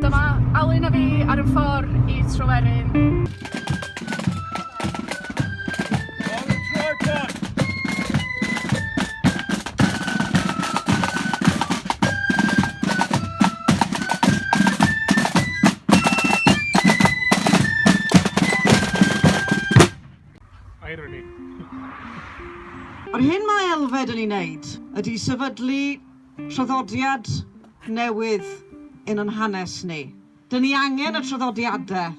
Dyma Alun a fi ar y ffordd i Tryweryn. Yr hyn mae Elfed yn ei wneud ydy sefydlu Traddodiad newydd yn yn hanes ni. Dyn ni angen y traddodiadau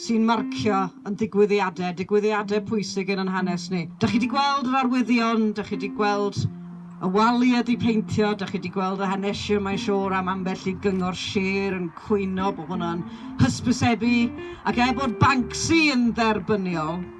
sy'n marcio yn ddigwyddiadau, digwyddiadau pwysig yn yn hanes ni. Dych chi 'di gweld yr arwyddion, dych chi 'di gweld y wali wedi peintio, dych chi 'di gweld y hanesion mae'n siŵr am ambell i gyngor sir yn cwyno bod hwnna'n hysbysebu ac er bod Banksy yn dderbyniol,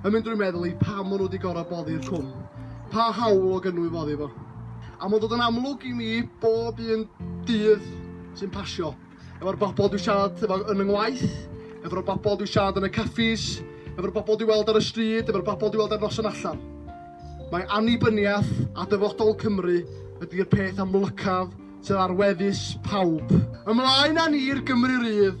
yn mynd drwy meddwl i pam maen nhw wedi gorfod boddi'r cwm. Pa hawl o gynwyf oddi fo? A mae'n dod yn amlwg i mi bob un dydd sy'n pasio. Efo'r bobl dwi'n siarad efo yn yng ngwaith, efo'r bobl dwi'n siarad yn y caffis, efo'r bobl dwi'n weld ar y stryd, efo'r bobl dwi'n weld ar noson allan. Mae annibyniaeth a dyfodol Cymru ydy'r peth amlycaf sydd ar wefus pawb. Ymlaen â ni'r Gymru Rydd,